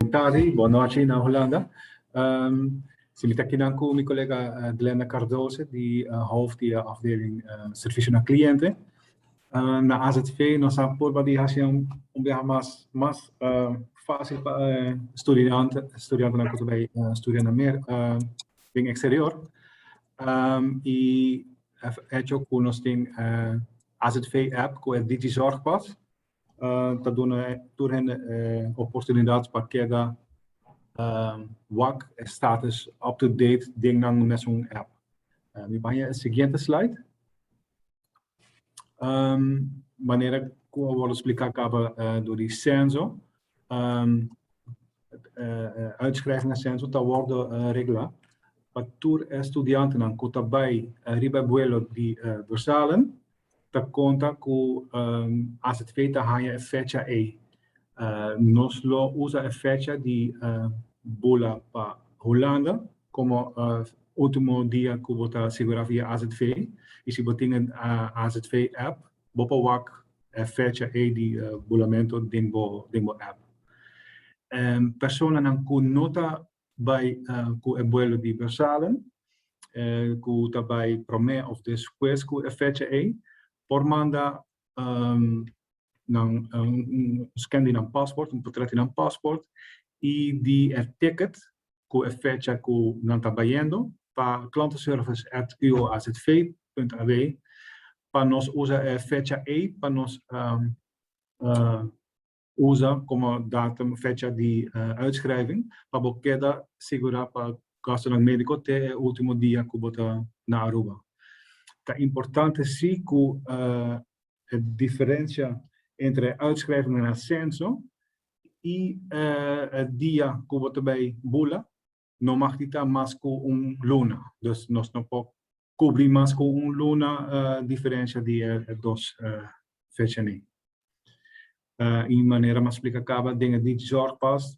Bon tardi, bon nochi na Hulanda. Si mi ta aki nan ku mi kolega Glenda Cardoze, di hof di e afdeling Servisio na Kliente. Na AZV nos a por bali hasi un biaha mas mas fásil pa e studiantenan ku ta bai studia na Merka. den eksterior i a hecho ku nos tin e azv app ku e Digi Zorgpas ta duna tur hende e oportunidat pa keda wak e status up to date den nan mesun app. Mi baña e siguiente slide. Um, manera ku a wòrdu splika kaba uh, do di senso, um, uh, uitschrijving na senso ta wòrdu uh, regla pa tur estudiantenan ku ta bai uh, riba vuelo di uh, Brusselen ta konta ku um, AZV ta haya e fecha e. Uh, nos lo usa e fecha di uh, bula pa Holanda Komo ultimo dia ku bo ta sigurá via azv i si bo tin e azv app bo por wak e fecha ei di bulamentu den bo app. Personanan ku no ta bai ku e buelo di Bersalen ku ta bai promé òf despues ku e fecha ei por manda nan scan di nan passport un potret di nan passport y di e ticket cu e fecha cu nan ta bayendo pa klanteservice@uazv.ab pa nos usa e fecha ey pa nos usa como datum, fecha di uitschrijving pa bo keda sigura pa gastonan medico te e ultimo dia cu bo ta na Aruba. Ta importante si cu e diferencia entre e uitschrijving na censo y e dia cu bo ta bay bula no mag di ta mas cu un luna. Dus nos no por cubri mas cu un luna diferencia di e dos fecha'nen. Y manera m'a splica caba den e DigiZorgpas,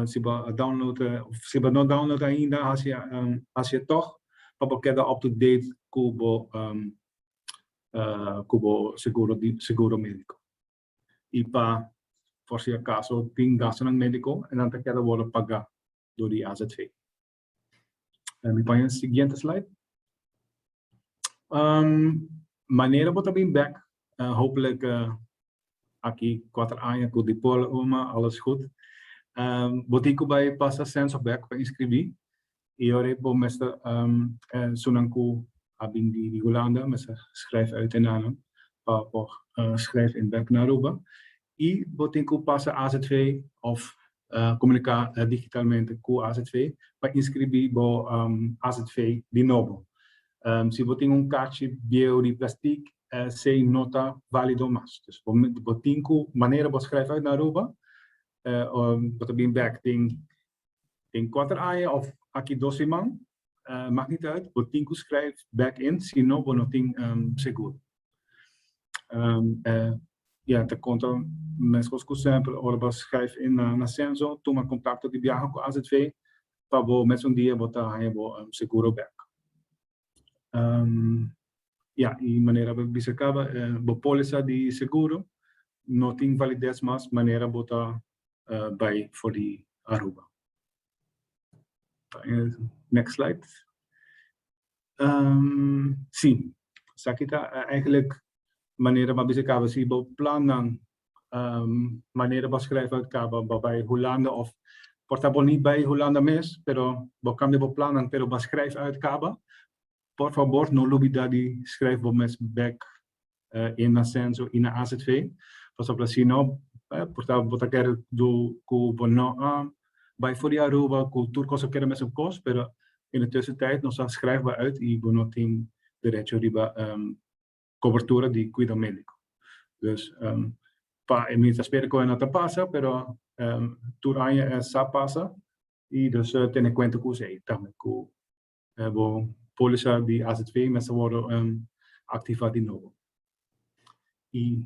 si bo a download, si bo no download ainda, haci e toch pa bo keda up to date cu bo seguro medico. y pa por si acaso tin gastonan medico e nan ta keda wordo paga door di AZV. Mi paña siguiente slide. Manera bo ta bin bek, hopelijk aki cuater aña cu Dipol, Irma, alles goed. Bo tin cu bay pasa censo bek pa inscribi. E ora e bo mester esnan ku a bin di Hulanda mester skrijf uit e nanan pa bo skrijf in bek na Aruba i bo tin ku pasa azv òf komuniká digitalmente ku azv pa inskribí bo azv di nobo. Si bo tin un kachi bieu di plastik esei no ta válido mas. Dus bo tin ku manera bo skrijf uit na Aruba bo ta bin bek den Den kuater aña òf aki dos siman, mak nit ùit, bo tin ku skrijf bèk in si no bo no tin segur. Ya, ta konta meskos ku sèmpel ora bo a skrijf in na Senso, tuma kontakto di biaha ku azv pa bo mes un dia bo ta haña bo seguro bèk. Ya, i manera bo bisa kaba, bo polisa di seguro no tin valides mas manera bo ta bai for di Aruba. Next slide. Sí, esaki ta eigenlijk manera bo a bisa kaba si bo plannan manera bo skrèf out kaba bo bai Hulanda of por ta bo ni bai Hulanda mes pero bo kambia bo plannan pero bo skrèf out kaba por fabor no lubida di skrèf bo mes bèk in na Censo i na azv pasobra bo ta si no por ta bo ta kere du ku bo no a bai for di Aruba ku tur kos a keda mesun kos pero in e tussentyd nos a skrèf bo out i bo no tin derecho riba. cobertura di cuido medico. Dus pa e mins a spera cu e no ta pasa, pero tur aña e sa pasa y dus tene cuenta cu esey tambe cu bo polisa di azv mester a wordo activa di nobo. Y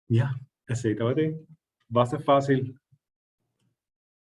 ya, esey tabata e. Basta facil.